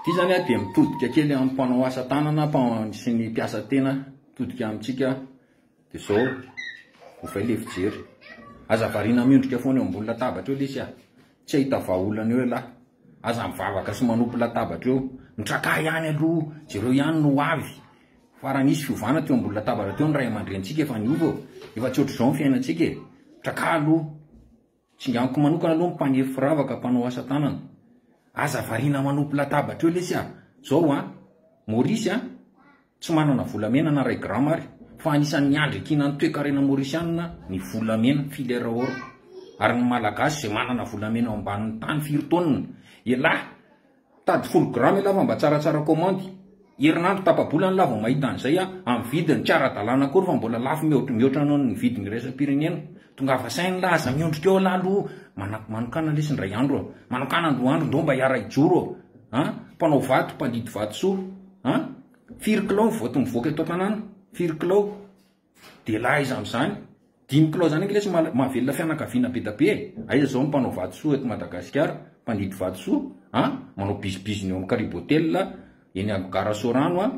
Ity izany dia mitodika kely amin'ny mpanao asa tanana sy ny mpiasa tena mitodika amintsika dia izao ovay ilay fijery. Aza variana miondrika foana eo ambony latabatra eo lesy ah. Tsy hahita vahaolana eo ialahy. Aza mivavaka sy manopy latabatra eo. Mitrakà ihany aloha, jereo ihany ny ho avy. Fa raha nisy fiovana teo ambony latabatra teo ny ray aman-drenintsika efa niova, efa tsy ohatr'izao ny fiainantsika e. Trakà aloha. Tsinganoko manokana aloha ny mpaniry firavaka mpanao asa tanana. Aza variana manopy latabatra eo lesy a! Zao a! Maurice a! Tsy manana volamena na iray grama ary, fa anisan'ny andriakiana ny toekarena maurisianina ny volamena, filaire or. Ary ny Malagasy izay manana volamena ao ambanin'ny tany firy taonina? Elah! Tady folo grammes ialahy fa mba tsaratsara komandy. Herinandro tapa-bola ny lahy vao mahita an'izay a! Amin'ny vidiny tsy ara-dalàna akory fa mbola lafo mihoatra mihoatra noho ny vidiny iraisam-pirenena. Tongava saina ialahy, aza miondrika eo ialahy aloha. Manako manokana lesy indray andro a! Manokana andro andro ndao mba hiara-hijoro a! A! Mpanao vato, mpandidy vatosoa. A! Firy kilao ny voto mivoaka eto an-tanàna? Firy kilao? Dia lahy iza amzany? Dimy kilao zany ange lesy mahavelona fianakaviana bedabe e! Aiza zao ny mpanao vatosoa eto Madagasikara? Mpandidy vatosoa an! Manao bizibiziny eo am karibo hotel eny am gara Sorano an!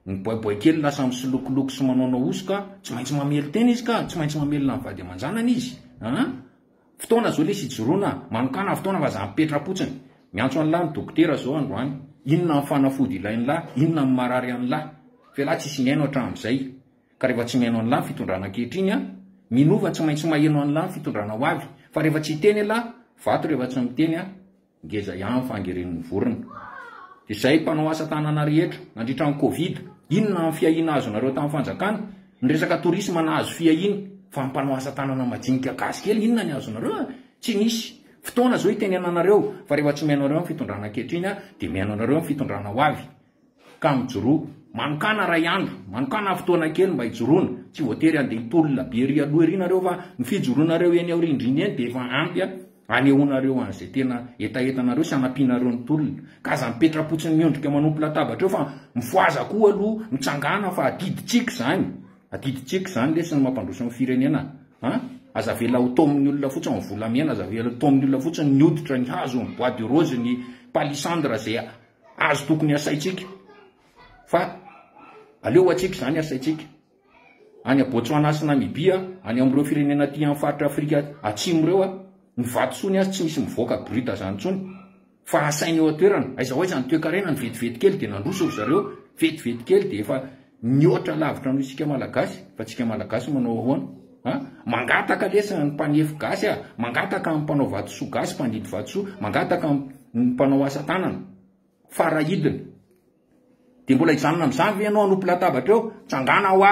Ny boaiboay kely lasa misilokiloko sy manaonao hosoka, tsy maintsy mamely tena izy ka! Tsy maintsy mamelona ny vady aman-janany izy an! Fotoana zao lesy ijoroana manokana fotoana fa za mipetrapotsiny miantso anlah ny dokotera zao androany inona ny fanafody ilainlah inona ny marary anlah felah tsisy mihaino atramzay ka rehefa tsy mihaino anlah ny fitondrana ankehitriny an minova tsy maintsy maheno anlah ny fitondrana hoavy fa rehefa tsy hiteny elah vato rehefa tsy miteny an Ngeza ihany fa angeren'ny vorona. Izay mpanao asa tanana rehetra nandritra ny covid, inona ny fiahiana azonareo tamin'ny fanjakana? Ny resaka tourisme nahazo fiahiana, fa ny mpanao asa tanana majinika gasy kely inona ny azonareo a? Tsy nisy. Fotoana izao itenenanareo, fa rehefa tsy mihaino anareo ny fitondrana ankehitriny dia mihaino anareo ny fitondrana ho avy. Ka mijoroa. Manokàna iray andro, manokàna fotoana kely mba hijoroana. Tsy voatery handeha hitolona be ery aloha ery ianareo fa ny fijoroanareo eny aorindrina eny dia efa ampy hanehoanareo an'izay tena hetahetanareo sy hanampianareo ny tolona. Ka aza mipetra-potsiny miondrika manompo latabatra eo fa mifohaza koa aloha, mitsangàna fa adidintsika izany. Adidintsika izany lesy ny mampandroso ny firenena a! Aza avela ho taomin'ny olona fotsiny ny volamena, aza avela ho taomin'ny olona fotsiny ny hoditra, ny hazo, ny bois de rose, ny palissandre izay Azy tokony hasaintsika fa aleo atsika izany hasaintsika. Any a Botswana sy Namibia, any amin'ireo firenena aty amin'ny faritra Afrika atsimo ireo, ny vatosoany azy tsy misy mivoaka brut izany intsony. Fa hasaina eo an-toerana. Aiza ho aiza ny toekarena, ny vetivety kely dia nandroso ry zareo, vetivety kely dia efa Mihoatra lavitra noho isika Malagasy, fa tsika Malagasy manao ahoana? Ha? Mangataka lesy ny mpanefy gasy a, mangataka amin'ny mpanao vatosoa gasy, mpandidy vatosoa, mangataka amin'ny mpanao asa tanana, farahidiny. Dia mbola hijanona amin'izany ve ianao hanompo latabatra eo? Tsangana hoa!